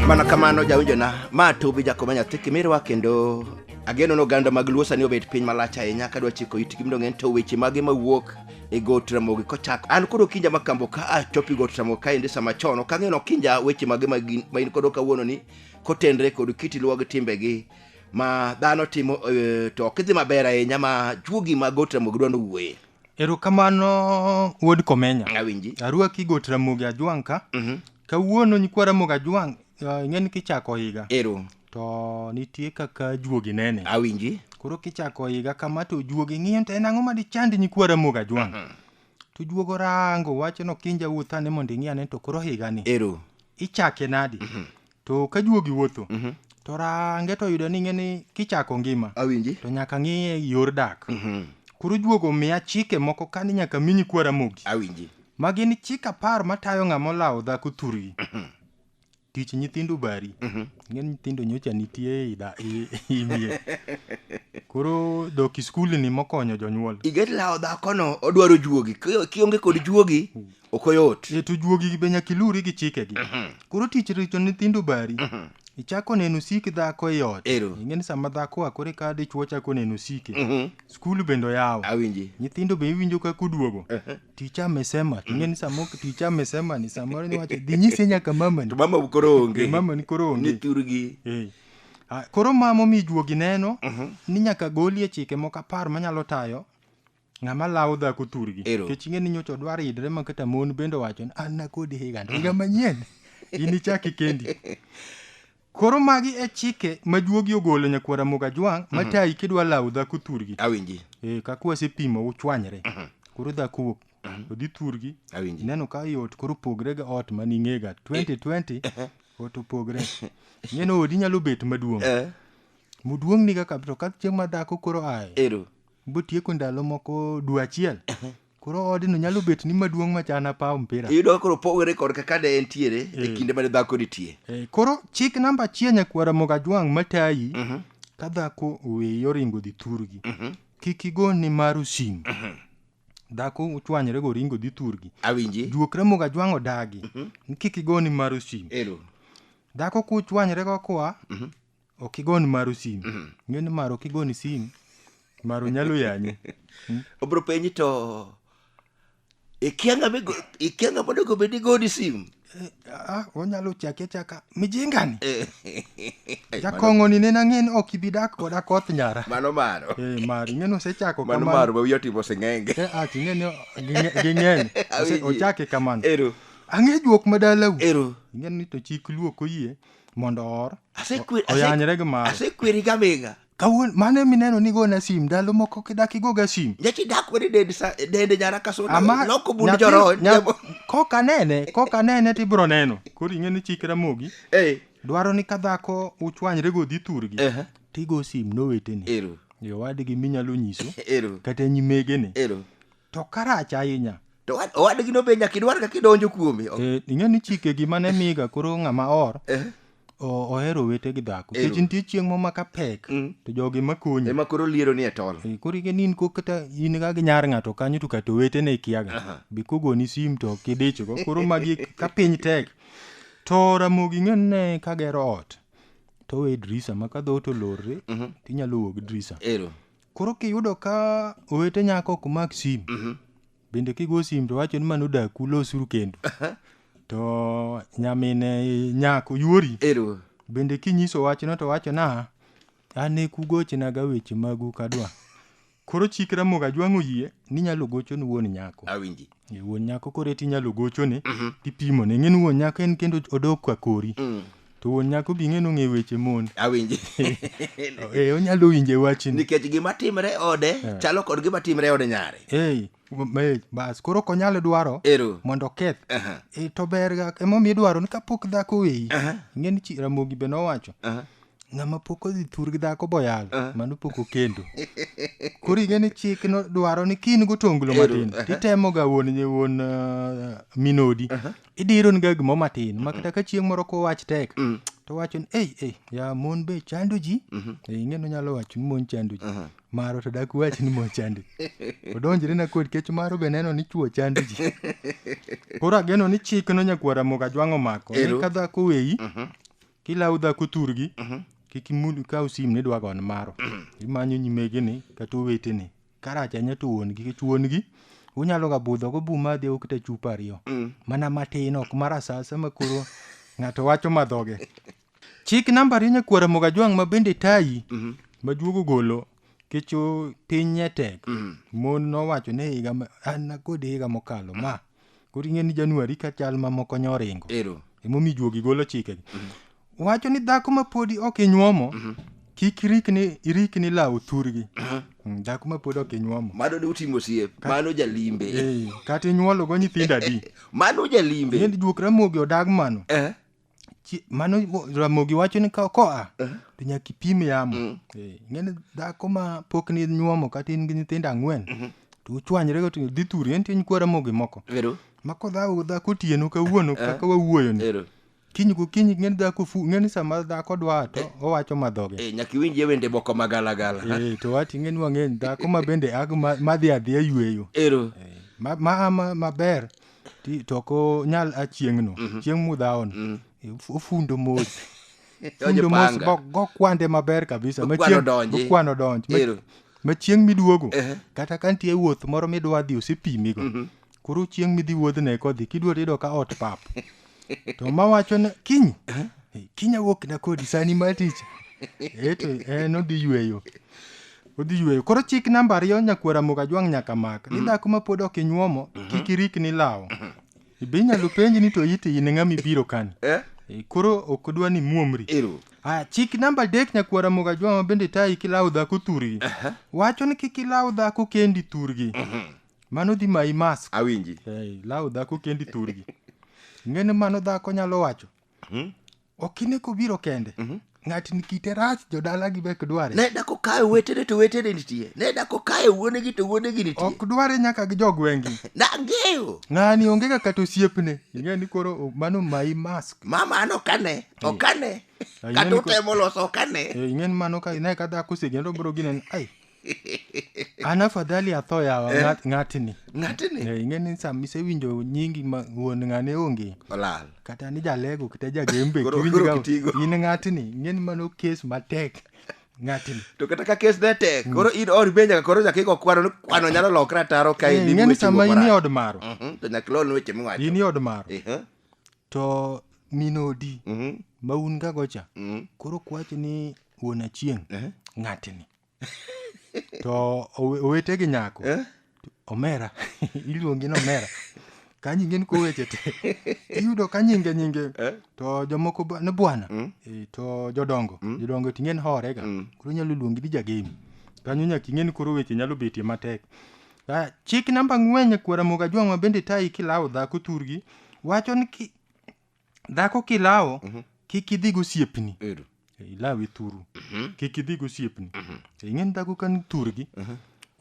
mana kamano jawinjona ma tubi jakoma nyathi kimirwa kendo ageno ni oganda mag luo sani obet piny malach ahinya kadwa chiko itgi mondo ng'eny to weche mage mawuok e got ramogi kochako an koro kinja makambo ka achopi got ramogi kaendi sama chon ok ang'eno kinja weche mage ma gin- ma in kodo kawuono ni kotenre kod kiti luwa gi timbegi ma dhano timo eh, to ok idhi maber ahinya ma juogi mag got ramogi dwa nowuoye erokamano wuod komenya awinji arwaki got ramogi ajwang' ka Mhm. kawuono nyikwa ramogi ajwang' eh, ing'eni kichako higa ero to nitie kaka juogi nene awinji koro kichako higa kama to juogi ng'iyo ni to en ang'o ma dichand nyikwa ramogi ajwang' to juogo rango wacho nokinja wuoth ane mondo ing'i ane to koro higani ero ichake nadi To ka juogi wuotho, Mhm. to range to oyudo ni ng'eni kichako ngima, Awinji. to nyaka ng'iye yor dak. Mhm. Koro juogo miya chike moko ka ni nyaka mi nyikwa Ramogi. Awinji. Ma gin chik apar matayo ng'ama olawo dhako thurgi. Tich nyithindo bari. Mhm. Ng'e ni nyithindo nyocha nitie i da- i- i mier. Koro dok i skul ni mokonyo jonyuol. Iget lawo dhakono odwaro juogi. Ki- Kionge kod juogi, ok oyot e to juogi be nyaka iluri gi chikegi koro tich richo nyithindo bari ichako neno sik dhako e ot Ero. ing'e ni sama dhako oa kore ka dichwo chako neno sike Mhm. skul bende oyaw awinji nyithindo be iwinjo ka kuduogo ticha amesema ing'e ni sama ok- ticha amesema ni samoro niwacho dhi nyise nyaka mamani to mama koro onge mama ni koro onge ni thurgi Eh. Ah, koro mamo mi juogi neno ni nyaka golie chike moko apar manyalo tayo Ng'ama lawo dhako thurgi. Ero. Kech ing'e ni nyocha odwar idre ma kata mon bende owacho ni an nakodi higa ni higa manyien. Inichaki kendi. Koro magi e chike ma juogi ogolo nyakwar Ramogi Ajwang' matayi kidwa lawo dhako thurgi. Awinji. Eh, kaka wasepimo uchwanyre. Koro dhako wuok. Odhi thurgi. Awinji. Ineno ka i ot koro pogre ga ot ma ning'ega 2020 ot opogre. Ing'eno odi nyalo bet maduong'. Eh. Muduong' ni kaka to ka chieng' ma dhako koro aye. Ero. botieko ndalo moko dwe achiel koro odno nyalo bet ni maduong' machana paw mpira iyudo ka koro pogore kod kaka ne entiere e Eh. kinde mane dhako nitie Eh, koro chik namba achiel nyakwara mogajwang' matayi ka dhako oweyi oringo dhi thurgi kik igo ni maru sim dhako uchwanyre go oringo dhi thurgi awinji juokre mogajwang' odagi ni kik igo ni maru sim ero dhako kuchwanyre go koa ok igon maru sim mm. ng'e ni maro ok igoni sim maro nyalo yanyi hmm? obro penyi to ikianga ikianga mondo go bedi goni sim eh, ah onyalo chake chaka mijingani eh. jakongo ni nena ng'en ok ibi dak koda koth nyara mano maro eh maro ng'en osechako kamano mano maro wiyo timo singenge eh ah ng'en ging'en ochake kamano ero ang'e juok madalau ero ng'en ni to chik luok oyie mondo oor Asekwer- o- oyanyre gi mare asekweri gamega kawuono mano emineno ni gona sim ndalo moko kidak igoga sim nyachi dak wede dende sa- dende nyara ka soda Ama- loko bund nyathi- joro nya- kok anene kok anene to ibiro neno koro ing'e ni chik ramogi Eh, dwaro ni ka dhako uchwanyre go dhi thurgi Ehe. tigo sim noweteni ero yo wadgi minyalo nyiso ero kata nyimegene ero to karach ahinya to owad- owadgino be nyaka idwar kaka idonjo kuome O- Eh, ing'e ni chike gima ne miga koro ng'ama or eh, o- ohero wete gi dhako Ero. kech nitie chieng' mo maka pek Mm. to jogi makonyi ema koro liero ni e tol Eh, koro ing'e ni in ko kata in ga gi nyar ng'ato kanyo to kata owetene ikiaga be kogoni sim to ok idichgo koro magi ka piny tek to ramogi ing'e ni ne kagero ot to owe dirisa ma ka dhoot olorre tinyalo wuok gi dirisa ero Koro kiyudo ka owete nyako ok mak sim, bende kigo sim to wacho ni mano odaku losuru kendo. To nyamine nyako yuori, Ero. bende kinyiso wachno to wacho na an e kugochnaga weche magu kadwa. Koro chik Ramogi Ajwang' oyie ni inyalo gocho ni wuon nyako. Awinji. E, wuon nyako koro eti inyalo gochone Mhm. tipimone ing'e ni wuon nyako en kendo odok ka kori Mm. to wuon nyako bi ing'e ni ong'e weche mon awinji e, onyalo winje wachni nikech gima timre ode chalo kod gima timre e ode nyare Ei, m- e, bas koro ok onyal dwaro ero mondo oketh Aha, e, to berga emomiyo idwaro ni kapok dhako weyi aha, ing'e ni chi- ramogi be nowacho aha. Ng'ama pok odhi thur gi dhako boyal, ah. mano pok okendo. Koro ing'e ni chik no dwaro ni kin gotonglo matin, titemo ga wuon nye wuon uh, minodi. Idiro ni ga gimo matin, ma kata ka chieng' moro ko wach tek, mm. to wacho ni, ei, ei, ya mon be chando ji, mhm. e, ing'e no nyalo wacho ni mon chando ji. Maro to dak wach ni mon chando ji. Odonjre na kod kech maro be neno ni chuo chando ji. Koro ageno ni chik no nyakwara moga jwang'o mako, ni ka dhako weyi, mhm. kilawo dhako thurgi mhm. kik imul kaw sim ni dwa gon maro mhm. imanyo nyimegini kata oweteni karach anya to wuon gi kech wuon gi unyalo ga budho go buma adhi okta chupa ariyo mm. mana matin ok mar asasa ma koro ng'ato wacho madhoge chik namba ariyo nyakwara moga jwang' ma bende tayi mhm. majuogo golo kecho piny nyetek mhm. mon nowacho ne higa an kod higa mokalo ma mm. koro ing'e ni januari ka chal mamoko nyo oringo ero emomiyo juogi golo chikegi wacho ni dhako ma podi ok inyuomo kik irikni irikni lawo thurgi Mm, dhako ma podi ok inyuomo mano ne utimo siep mano jalimbe Eh, kata inyuologo nyithindo adi mano jalimbe yend juok ramogi odag mano eh Chi- mano mo- ramogi wacho ni ka koa to nyaka ipim yamo Eh, ing'eni dhako ma pok ni nyuomo kata in gi nyithindo ang'wen to uchwanyre go to dhi thuri en tin kwa ramogi moko Ero. ma kodhago dhako otieno kawuono kaka wawuoyoni Ero. kiny gokinyi ng'eni dhako fu ng'eni sama dhako dwa to owacho madhoge Eh, nyaka iwinjie wende moko magalagala. Eh, to wati ng'eni wang'eny dhako ma bende ag ma- madhi adhiya yueyo Ero. Eh, ma- ma- ma- maber Ti- to ok onyal a chieng'no chieng' mudhawono Of- ofundo mos Donjo fundo mos panga. go- gokwande maber kabisa ma Okwano chieng' donji. okwano donj Ma- Ero. ma chieng' miduogo Ehe. kata ka nitie wuoth moro midwa dhi osepimigo koro chieng' midhi wuodhne kodhi kidwa to iyudo ka ot pap to ma wacho ni kiny eh, kiny awuok na kodi sani ma tich eh to en odhi yweyo odhi yweyo koro chik namba ariyo nyakwara moga jwang' nyaka mak ni dhako ma pod ok inyuomo kik irik ni lawo be inyalo penji ni to iti in ng'ama ibiro kani Eh? Eh, koro ok odwa ni muomri Ero. Ah, chik namba adek nyakwara moga jwang' ma bende tayi kilawo dhako thurgi wacho ni kik ilaw dhako kendi thurgi mano dhi mayi mask awinji hey, law dhako kendi thurgi ng'eni mano dhako nyalo wacho hmm? okine kobiro kende mm -hmm. ng'atni kite rach jodalagi be ok dware ne dako kae wetene to wetene nitie ne dako kae wuonegi to wuonegi nitie ok dware nyaka gi jogwengi nang'eyo ng'ani onge kaka to osiepne ing'e ni koro mano mayi mask mama an okane okane kata utemo loso okane ing'e ni mano ka ne ka dhako osegendo bro ginen ai an afadhali atho yawa Eh. ng'at- ng'atni ng'atni Eh, ing'eni sama isewinjo nyingi ma wuon ng'ane onge olal kata ni jalego kata jagembe Koro- kiwinjo koro ga- kitigo. in ng'atni ing'eni mano kes matek ng'atni to kata ka kes ne tek koro in or be nyaka koro nyaka igo kwano ni kwano nyalo lokre ataro ka Eh, in ing'eni weche sama go in e marach. od maro Mhm, to nyaka ilon weche miwacho in e od maro Eh, eh, to min odi mhm, ma un ga gocha mhm, koro kwacho ni wuon achieng' eh, ng'atni to owe- owete gi nyako Eh? omera iluongi ni omera ka nyinge ni koweche te iyudo ka nyinge nyinge Eh? to jomoko ba- ni bwana Mm. Eh, to jodongo jodongo ting'e ni horega Mm. koro inyalo luongi ni jagemi kanyo nyaka ing'e ni koro weche nyalo betie matek Ah, chik namba ng'wen nyakwara moga jwang'wa bende tayi kilawo dhako thurgi wacho ni ki- dhako kilawo Mhm. kik idhi gosiepni Ero. ilawe thuru Mhm. kik idhi gosiepni Mhm. ing'eni dhako kan thurgi Mhm.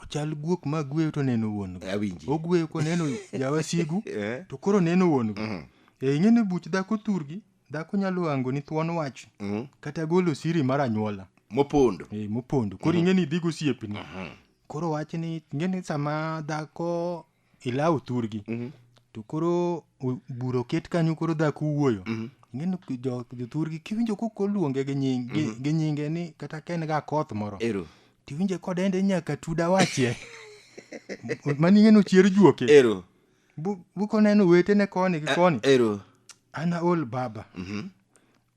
ochal guok ma gweyo to neno wuon go Awinji. ogweyo koneno jawasigu Eh. to koro neno wuon go Mhm. e ing'eni buch dhako thurgi dhako nyalo ango ni thuon wach Mhm. kata golo siri mar anyuola Mopondo. e mopondo koro ing'eni idhi gosiepni Mhm. koro wach ni ing'eni sama dhako ilaw thurgi Mhm. to koro o- bura oket kanyo koro dhako wuoyo Mhm. ing'eni ki- jo- jothurgi kiwinjo kok oluonge gi nying- gi- gi nyinge ni kata ka en ga koth moro Ero. tiwinje kodende ni nyaka tuda wachie mani ing'eni ochier juoke Ero. Bu- bukoneno wetene koni gi koni Ero. ana ol baba Mhm.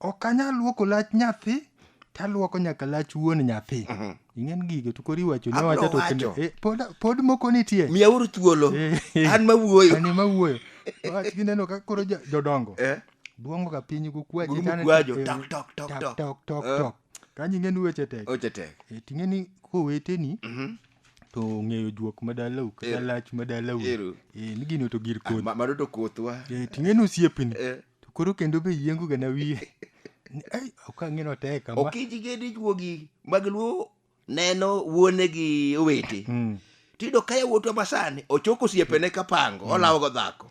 ok anyal luoko lach nyathi taluoko nyaka lach wuon nyathi ing'en gigo to koro iwacho ne Abro wacha to wacho. kendo- eh, pod- pod moko nitie miyauru thuolo Eh. an mawuoyo Ani ma wuoyo wach gineno ka koro jo- jodongo Eh, duongo ka piny gukwaje Guru tane- mukwajo, eh, tok, tok, tok, tok, tok. tok, tok, Eh. tok. kanyo ing'eni weche tek oche tek Eh, ting'eni koweteni Mhm. to ng'eyo juok madalau kata Ero. lach madalau Ero. Eh, ni gino to gir Ah, kodhi ma- mano to kothwa Eh, ting'eni osiepni Eh, to koro kendo be yiengo gana wiye Ni, ai ok ang'e notek kama okiji gi dichuogi mag luo neno wuone gi owete Mm. tiyudo ka yawuotwa masani ochoko osiepene ka pango olawogo dhako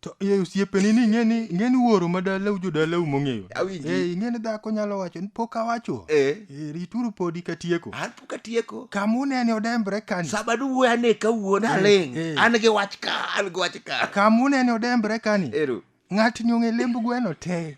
to e osiepeni ni ing'eni ing'eni wuoro ma dalau jodalau mong'eyo Awinji. Eh, ing'eni dhako nyalo wacho ni pok awacho Eh. Eh, rituru podi katieko An katieko kama unene odembre kani sama duwuoyo ane kawuo naling eh. an gi wach ka an gi wach ka kama unene odembre kani ero ng'ato nyong'e lemb gweno te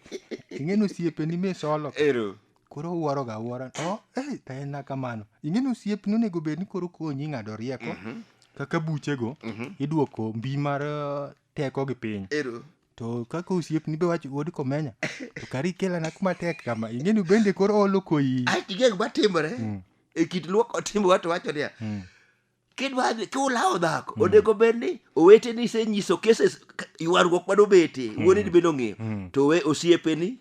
ing'eno osiepeni misolo ero koro uwaro ga uwaro oh, hey, taena kamano ing'eni osiep ni onego bed ni koro konyi ng'ado rieko mm -hmm. kaka buchego mm -hmm. idwoko mbi mar uh, teko gi piny Ero. to kaka osiepni be wacho wuod komenya to kari kelana kuma tek kama ing'eni bende koro olo koyi ae tigeng matimore Mm. e kit luoko timbe wato wacho niya Mm. kidwa dhi- kiulawo dhako onego bed ni oweteni isenyiso cases k- ywaruok mane obete wuoneni bende ong'eyo Mm. to we osiepeni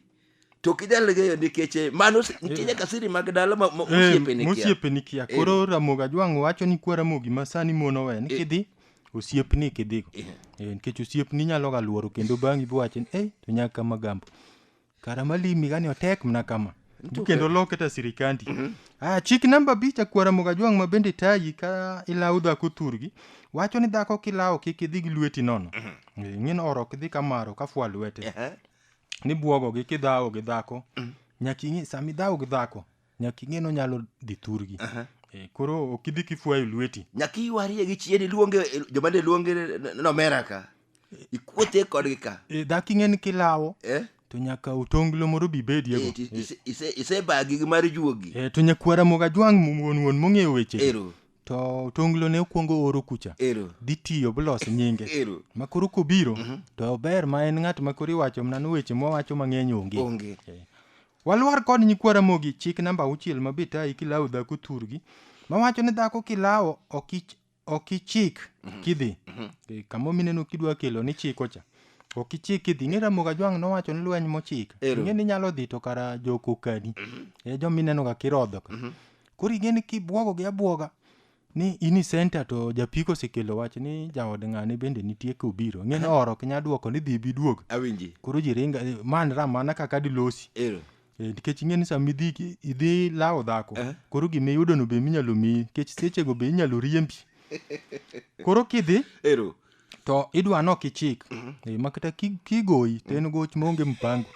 to ok inyal ng'eyo nikech eh, mano si- nitie nyaka siri mag dala ma- ma- Eh, mosiepeni kia. mosiepeni kia Eh. koro ramogi ajwang'o wacho ni kwa ramogi ma sani mon owe ni kidhi osiepni kidhigo Eh. Eh, nikech osiepni nyalo ga luoro kendo bang'i biwacho ni ei to nyaka kama gambo kara malimi gani otek mna kama Ntuke. kendo loke ta sirikandi ah, chik namba abich akwa ramogi ajwang' ma bende tayi ka ilawo dhako thurgi wacho ni dhako kilawo kik idhi gi lweti nono Eh, ing'e ni oro ok dhi kamaro ka fwa lwete Ehe. ni bwogogi kidhawo gi dhako mm. nyaka ing'e sama idhawo gi dhako nyaka ing'e no nyalo dhi thurgi uh -huh. e, eh, koro ok idhi kifwayo lweti nyaka iwarie gi chien iluonge eh, joma ne luonge nomera ka ikuothe kodgi ka e, dhako ing'e ni kilawo eh? to nyaka otonglo moro bi bediego isebagi gi mar juogi e, to nyakwara moga jwang' wuon wuon mong'eyo weche ero to otonglo ne okuongo oro kucha ero dhi tiyo bilos nyinge ero ma koro kobiro to ber ma en ng'at ma koro iwacho mana ni weche mwawacho mang'eny onge onge walwar kod nyikwa ramogi chik namba auchiel ma bitayi kilawo dhako thurgi mawacho ni dhako kilawo ok ich- ok ichik kidhi Eh, kama mineno kidwa kelo ni chiko cha ok ichik kidhi ing'e ramoga jwang' nowacho ni lweny mochik Ero. ing'e ni nyalo dhi to kara jokokadi e jomineno ga kirodho ka koro igeni kibwogogi abwoga ni in i senta to japiko osekelo wach ni jaod ng'ane bende nitie kobiro ng'e ni oro ok nya dwoko ni dhi biduog awinji koro ji ringa eh, man ra mana kaka dilosi ero Eh, nikech ing'e ni sama idhi ki- idhi lawo dhako Eh. koro gima iyudono be minyalo miyi nikech sechego be inyalo riembi koro kidhi ero to idwa nok ichik Eh, ma kata ki- kigoyi to en goch maonge mpango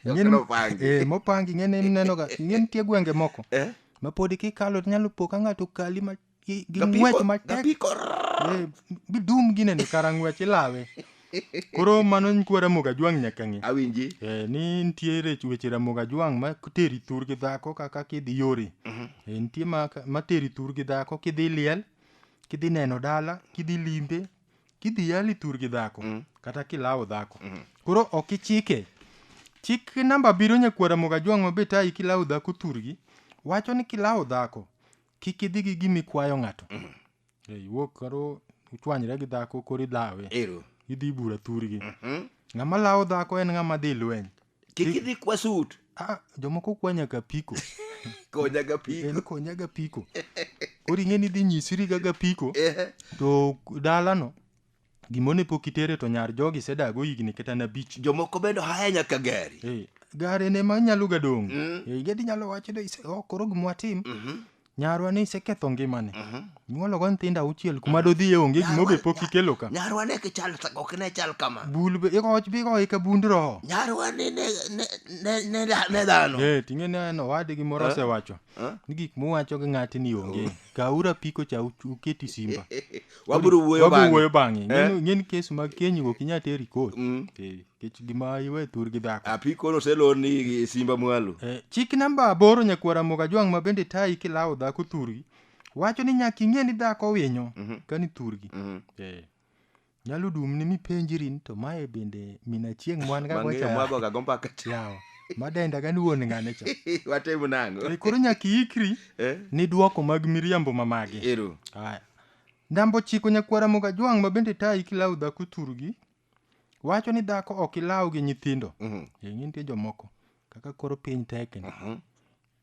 Ing'eni- Kaka opangi. eh, mopangi ing'eni inenoga ing'eni nitie gwenge moko Eh? ma podi kikalo to nyalo po ka ng'ato kali ma- gi gi Gapiko- ng'wech matek gapiko. Eh, bidum ginene kara ng'wech ilawe koro mano nkwa ramogi ajwang' nyaka ng'e awinji Eh, ni nitie rech- weche ramogi ajwang' ma teri thur gi dhako kaka kidhi yore Eh, nitie ma ma teri thur gi dhako kidhi liel kidhi neno dala kidhi limbe kidhi yali tur gi dhako mm. kata kilawo dhako mm. koro ok ichike chik namba biro nyakwara moga jwang' mabe tayi kilawo dhako turgi wacho ni kilawo dhako kik idhi gi gimi kwayo ng'ato mm. e, iwuok karo uchwanyre gi dhako koro idhawe idhi bura turgi mm -hmm. ng'ama lawo dhako en ng'ama dhi lweny kik idhi kwa sut ah, jomoko kwa nyaka piko konyaga piko en konyaga piko koro ing'e ni dhi nyisiri gaga piko Ehe. to dalano gimone pok itere to nyar jogi sedago higni kata na bich jomoko bende ohaya nyaka gari Eh, gare ne ma nyalo gadong' Eh, gadi nyalo wacho ni "Ise- oh, koro gimwatim Nyarwa ne iseketho ngimane. Mhm. Nyuolo go nyithindo auchiel kuma dodhiye onge gima be pok ikelo ka. Nyarwa ne kichal ok ne chal kama. Bul be iko bi go ika bund roho. Nyarwa ne ne ne ne ne dhano. Eh tinge ne no wadi gi moro eh? osewacho. Eh? Ni gik muwacho gi ng'ati ni onge. Oh. Kaura piko cha uketi simba. Waburu wuoyo bang'e. Waburu wuoyo bang'e. Eh? Ng'en kes mag kenyi go kinyate rikot. Mm. Eh. Kech gima iwe thurgi dhako. Apiko noselor ni simba mwalo. Eh, chik namba aboro nyakwara moga jwang' ma bende tayi kilawo dhako thurgi wacho ni nyaka ing'e ni dhako winyo Mhm. kani thurgi Mhm. eh. nyalo dumni mipenjiri ni to mae bende min achieng' mwan ga Mang'eyo gocha mwago ga gombaka. yawa madenda ga ni wuon ng'ane cha Watemo nango. Eh, koro nyaka iikri Eh? ni dwoko mag miriambo ma magi Ero. Aya. Ndambo chiko nyakwara moga jwang' ma bende tayi kilawo dhako thurgi wacho ni dhako ok ilaw gi nyithindo Mhm. ing'e nitie jomoko kaka koro piny tekni Mhm.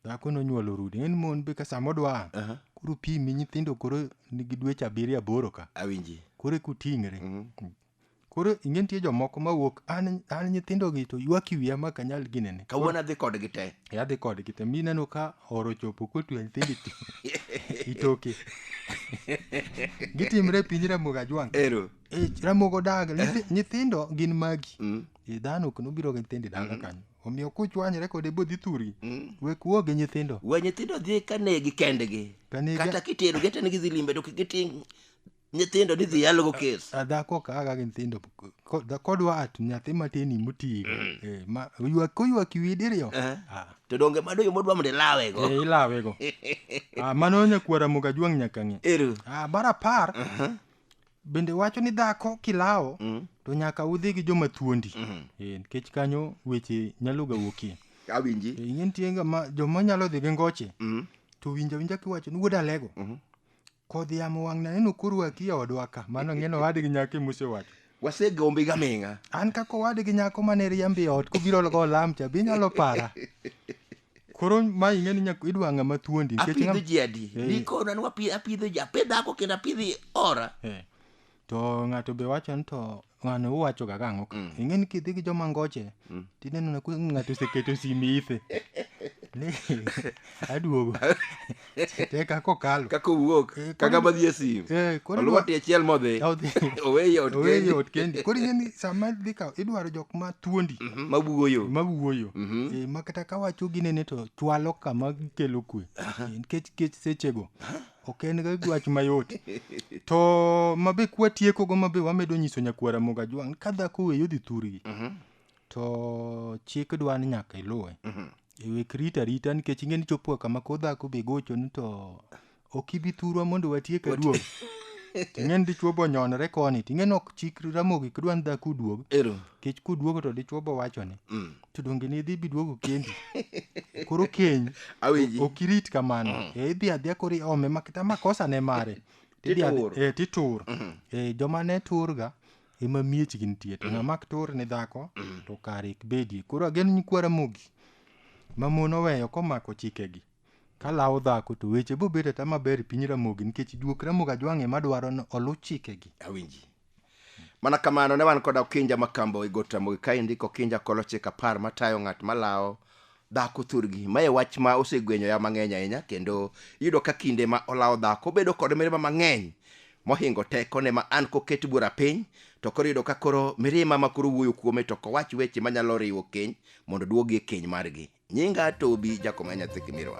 dhako nonyuolo rude ng'e ni mon be ka sama odwa Aha. koro pimi nyithindo koro nigi dweche abiriyo aboro ka awinji koro eka uting're Mhm. koro ing'e nitie jomoko mawuok an an nyithindogi to ywak i wiya ma ok anyal ginene kawuono adhi kodgi te yadhi kodgi te mi ineno ka oro chopo kotwe nyithindo ito- itoke gitimre e piny ramogi ajwang' ero Eh, ramogo daga Nyithi- nyithindo gin magi Mm. Eh, dhano ok nobiro gi nyithindo e dala kanyo omiyo kuchwanyre kode bodhi thuri wek wuo gi nyithindo we nyithindo dhi ka negi kendgi Kanegi- kata kiterogi ata ni gidhi limbe to kik giting' nyithindo ni dhi yalogo kes A dhako kaga gi nyithindo ko- da- kodwa at nyathi matini moti eh, ma ywak koywak iwi diriyo Eh. Ah, to donge mado yo modwa mondo ilawego eh, ilawego Ah, mano nyakwara moga jwang' nyaka ng'e ero Ah, mar apar bende wacho ni dhako kilawo mm. to nyaka udhi gi joma thuondi mm. e, nikech kanyo weche nyalo ga wuokie awinji e, ing'e nitie joma nyalo dhi gi ngoche mm. to winja winja kiwacho ni wuod alego mm -hmm. kodhi yamo wang' naneno korwaki e odwa ka mano ng'eno owadgi nyaka imusewacho wasegombi ga ming'a an kaka owadgi nyako mane riambi e ot kobiro go lam cha be inyalo para koro ma ing'e ni nyaka idwa ng'ama thuondi nikech apidho ng'ama- ji adi Eh. nikona ni wapi- apidho ji apidh dhako kendo apidhi ora Eh, to ng'ato be wacho ni to ng'ano uwachoga gang'o ka Mm. ing'e ni kidhi gi joma ngoche Mm. tineno na ku- ng'ato oseketo simi ithe Ni, aduogo te kaka okalo kaka owuok Eh, kaka koro- madhi e sim Eh, koro oluwo idwa- tie achiel modhi Odhi. oweye ot Oweye kendi ot kendi koro ing'e ni sama dhi kawo idwaro jok ma thuondi Mhm, mabugo yo ma wuoyo Mhm. Eh, ma kata ka wacho ginene to chwalo kama gikelo kwe Eh, nikech kech sechego ok en ga gwach mayot to mabe kwatiekogo mabe wamedo nyiso nyakwara moga jwang' ka dhako weyo dhi thurgi Mhm, to chik dwa ni nyaka iluwe mhm. E wek rita rita nikech ing'e ni chopo kama ko dhako be gochoni to ok ibi thurwa mondo watiek aduog. Ting'e ni dichwo bo nyonore koni, ting'e ni ok chik ramogi kidwa ni dhako uduog. Ero. Nikech kuduogo to dichwo bo wachoni. Mm. To donge ne idhi biduogo kendi. Koro keny Awinji. ok irit kamano. E idhi adhiya koro iome makata makosa ne mare. Tidhi adhi- Titur. Eh, titur. Eh, joma ne turga ema miechgi nitie to ng'ama ok tur ni dhako to kare ik bedie koro ageno nyikwa ramogi ma mon oweyo komako chikegi kalawo dhako to weche bobedo ata maber e piny ramogi nikech juok ramogi ajwang'e madwaro ni oluw chikegi awinji mana kamano ne wan koda okinja makambo e got ramogi kaendi kokinja kolochik apar matayo ng'at malawo dhako thurgi mae wach ma osegwenyoya mang'eny ahinya kendo iyudo ka kinde ma olawo dhako bedo kod mirima mang'eny mohingo tekone ma an koket bura piny to koro iyudo ka koro mirima ma koro wuoyo kuome to kowach weche manyalo riwo keny mondo duogi e keny margi nyinga tobi jakoma nyathi kimirwa